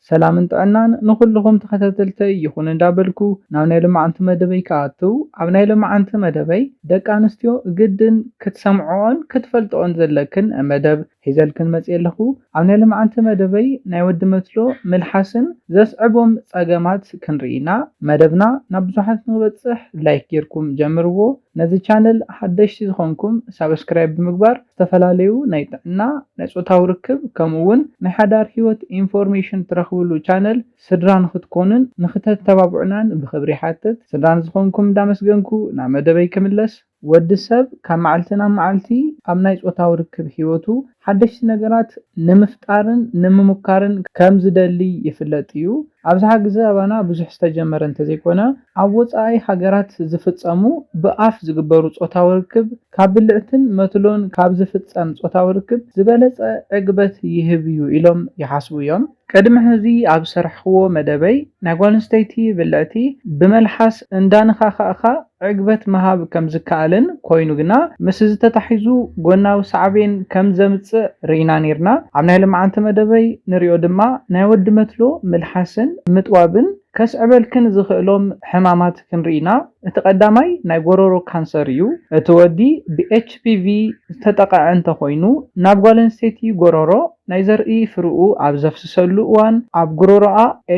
ሰላምን ጥዕናን ንኹሉኹም ተኸታተልተይ ይኹን እንዳበልኩ ናብ ናይ ሎማዓንቲ መደበይ ክኣትው ኣብ ናይ ሎማዓንቲ መደበይ ደቂ ኣንስትዮ ግድን ክትሰምዕኦን ክትፈልጥኦን ዘለክን መደብ ሒዘልክን መጽየ ኣለኹ ኣብ ናይ ሎማዓንቲ መደበይ ናይ ወዲ መትሎ ምልሓስን ዘስዕቦም ጸገማት ክንርኢ ኢና መደብና ናብ ብዙሓት ንኽበጽሕ ላይክ ጌርኩም ጀምርዎ ነዚ ቻነል ሓደሽቲ ዝኾንኩም ሳብስክራይብ ብምግባር ዝተፈላለዩ ናይ ጥዕና፣ ናይ ጾታዊ ርክብ ከምኡ'ውን ናይ ሓዳር ህይወት ኢንፎርሜሽን ትረኽብሉ ቻነል ስድራ ንኽትኮኑን ንኽተተባብዑናን ብኽብሪ ይሓትት። ስድራ ንዝኾንኩም እንዳመስገንኩ ናብ መደበይ ክምለስ። ወዲ ሰብ ካብ መዓልቲ ናብ መዓልቲ ኣብ ናይ ጾታዊ ርክብ ህይወቱ ሓደሽቲ ነገራት ንምፍጣርን ንምሙካርን ከም ዝደሊ ይፍለጥ እዩ። ኣብዝሓ ግዘ ኣባና ብዙሕ ዝተጀመረ እንተዘይኮነ ኣብ ወጻኢ ሃገራት ዝፍጸሙ ብኣፍ ዝግበሩ ጾታዊ ርክብ፣ ካብ ብልዕትን መትሎን ካብ ዝፍጸም ጾታዊ ርክብ ዝበለጸ ዕግበት ይህብ'ዩ ኢሎም ይሓስቡ'ዮም። ቅድሚ ሕዚ ኣብ ዝሰርሕክዎ መደበይ፣ ናይ ጓል ኣንስተይቲ ብልዕቲ ብመልሓስ እንዳነኻኻእካ ዕግበት ምሃብ ከም ዝከኣልን ኮይኑ ግና ምስ'ዚ ተታሒዙ ጎናዊ ሳዕቤን ከም ዘምጽእ ርኢና ኔርና። ኣብ ናይ ልምዓንቲ መደበይ ንሪኦ ድማ ናይ ወዲ መትሎ ምልሓስን ምጥዋብን፣ ከስዕበልክን ዝኽእሎም ሕማማት ክንርኢና እቲ ቀዳማይ ናይ ጎሮሮ ካንሰር እዩ። እቲ ወዲ ብHPV ዝተጠቐዐ እንተኾይኑ ናብ ጓል ኣንስተይቲ ጎሮሮ ናይ ዘርኢ ፍርኡ ኣብ ዘፍስሰሉ እዋን ኣብ ጉሮሮኣ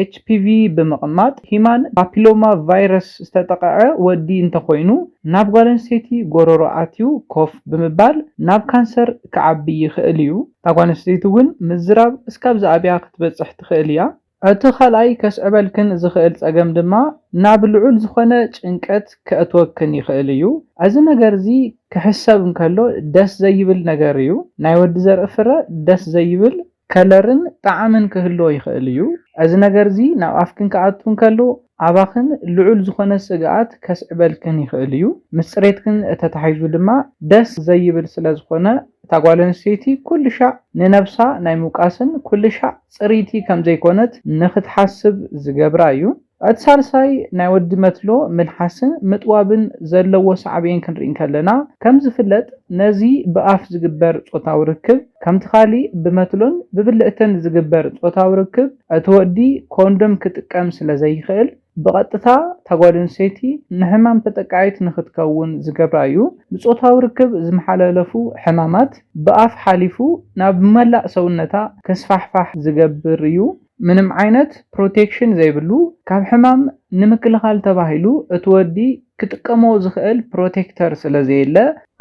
HPV ብምቕማጥ ሂማን ፓፒሎማ ቫይረስ ዝተጠቐዐ ወዲ እንተኾይኑ ናብ ጓል ኣንስተይቲ ጎሮሮ ኣትዩ ኮፍ ብምባል ናብ ካንሰር ክዓቢ ይኽእል እዩ። እታ ጓል ኣንስተይቲ እውን ምዝራብ እስካብ ዝኣብያ ክትበፅሕ ትኽእል እያ። እቲ ካልኣይ ከስዕበልክን ዝኽእል ጸገም ድማ ናብ ልዑል ዝኾነ ጭንቀት ከእትወክን ይኽእል እዩ። እዚ ነገር'ዚ ክሕሰብ እንከሎ ደስ ዘይብል ነገር እዩ። ናይ ወዲ ዘርኢ ፍረ ደስ ዘይብል ከለርን ጣዕምን ክህልዎ ይኽእል እዩ። እዚ ነገር'ዚ ናብ ኣፍክን ክኣቱ እንከሎ ኣባኽን ልዑል ዝኾነ ስግኣት ከስዕበልክን ይኽእል እዩ። ምስ ጽሬትክን ተታሒዙ ድማ ደስ ዘይብል ስለዝኾነ፣ እታ ጓል ኣንስተይቲ ኩልሻዕ ንነብሳ ናይ ምውቃስን ኩልሻዕ ጽርይቲ ከም ዘይኮነት ንኽትሓስብ ዝገብራ እዩ። እቲ ሳልሳይ ናይ ወዲ መትሎ ምልሓስን ምጥዋብን ዘለዎ ሳዕቤን ክንርኢ እንከለና፣ ከም ዝፍለጥ ነዚ ብኣፍ ዝግበር ጾታዊ ርክብ ከምቲ ካልእ ብመትሎን ብብልዕትን ዝግበር ጾታዊ ርክብ እቲ ወዲ ኮንዶም ክጥቀም ስለ ዘይኽእል፣ ብቐጥታ እታ ጓል ኣንስተይቲ ንሕማም ተጠቃዒት ንኽትከውን ዝገብራ እዩ። ብጾታዊ ርክብ ዝመሓላለፉ ሕማማት ብኣፍ ሓሊፉ ናብ መላእ ሰውነታ ክስፋሕፋሕ ዝገብር እዩ። ምንም ዓይነት ፕሮቴክሽን ዘይብሉ፣ ካብ ሕማም ንምክልኻል ተባሂሉ እቲ ወዲ ክጥቀሞ ዝኽእል ፕሮቴክተር ስለዘየለ፣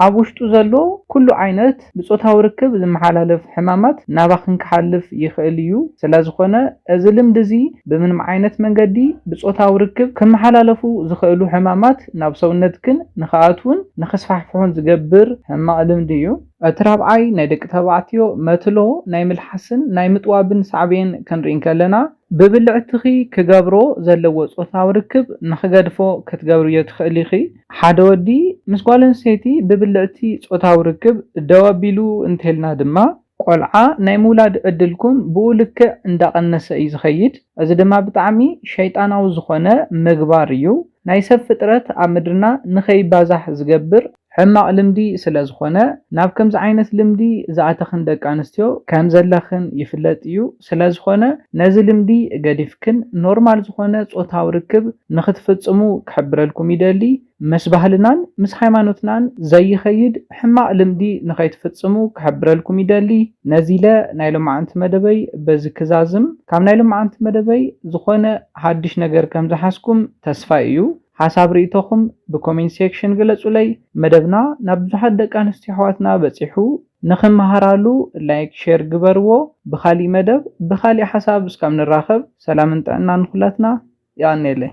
ኣብ ውሽጡ ዘሎ ኩሉ ዓይነት ብጾታዊ ርክብ ዝመሓላለፍ ሕማማት ናባኽን ክሓልፍ ይኽእል እዩ፣ ሰለዝኾነ እዚ ልምዲ እዚ ብምንም ዓይነት መንገዲ ብጾታዊ ርክብ ክመሓላለፉ ዝኽእሉ ሕማማት ናብ ሰውነትክን ንኽኣትዉን ንኽስፋሕፍሑን ዝገብር ሕማቕ ልምዲ እዩ። እቲ ራብዓይ ናይ ደቂ ተባዕትዮ መትሎ ናይ ምልሓስን ናይ ምጥዋብን ሳዕቤን ክንርኢ እንከለና፣ ብብልዕትኺ ክገብሮ ዘለዎ ጾታዊ ርክብ ንኽገድፎ ክትገብርዮ ትኽእሊ ኢኺ። ሓደ ወዲ ምስ ጓል ኣንስተይቲ ብብልዕቲ ጾታዊ ርክብ ደው ኣቢሉ እንተይልና ድማ ቆልዓ ናይ ምውላድ ዕድልኩም ብኡ ልክዕ እንዳቐነሰ እዩ ዝኸይድ። እዚ ድማ ብጣዕሚ ሸይጣናዊ ዝኾነ ምግባር እዩ። ናይ ሰብ ፍጥረት ኣብ ምድርና ንኸይባዛሕ ዝገብር ሕማቕ ልምዲ ስለ ዝኾነ ናብ ከምዚ ዓይነት ልምዲ ዝኣተኽን ደቂ ኣንስትዮ ከም ዘለኽን ይፍለጥ እዩ ስለ ዝኾነ ነዚ ልምዲ ገዲፍክን ኖርማል ዝኾነ ጾታዊ ርክብ ንኽትፍጽሙ ክሕብረልኩም ይደሊ ምስ ባህልናን ምስ ሃይማኖትናን ዘይኸይድ ሕማቕ ልምዲ ንኸይትፍጽሙ ክሕብረልኩም ይደሊ ነዚለ ናይ ሎማዓንቲ መደበይ በዚ ክዛዝም ካብ ናይ ሎማዓንቲ መደበይ ዝኾነ ሃድሽ ነገር ከም ዝሓዝኩም ተስፋይ እዩ ሓሳብ ሪኢቶኹም ብ ኮሜንት ሴክሽን ግለጹለይ። መደብና ናብ ብዙሓት ደቂ ኣንስትዮ ኣሕዋትና በጺሑ ንኽመሃራሉ ላይክ ሼር ግበርዎ። ብኻሊእ መደብ ብኻሊእ ሓሳብ እስካብ ንራኸብ ሰላምን ጥዕናን ንኹላትና። የቐኔለይ።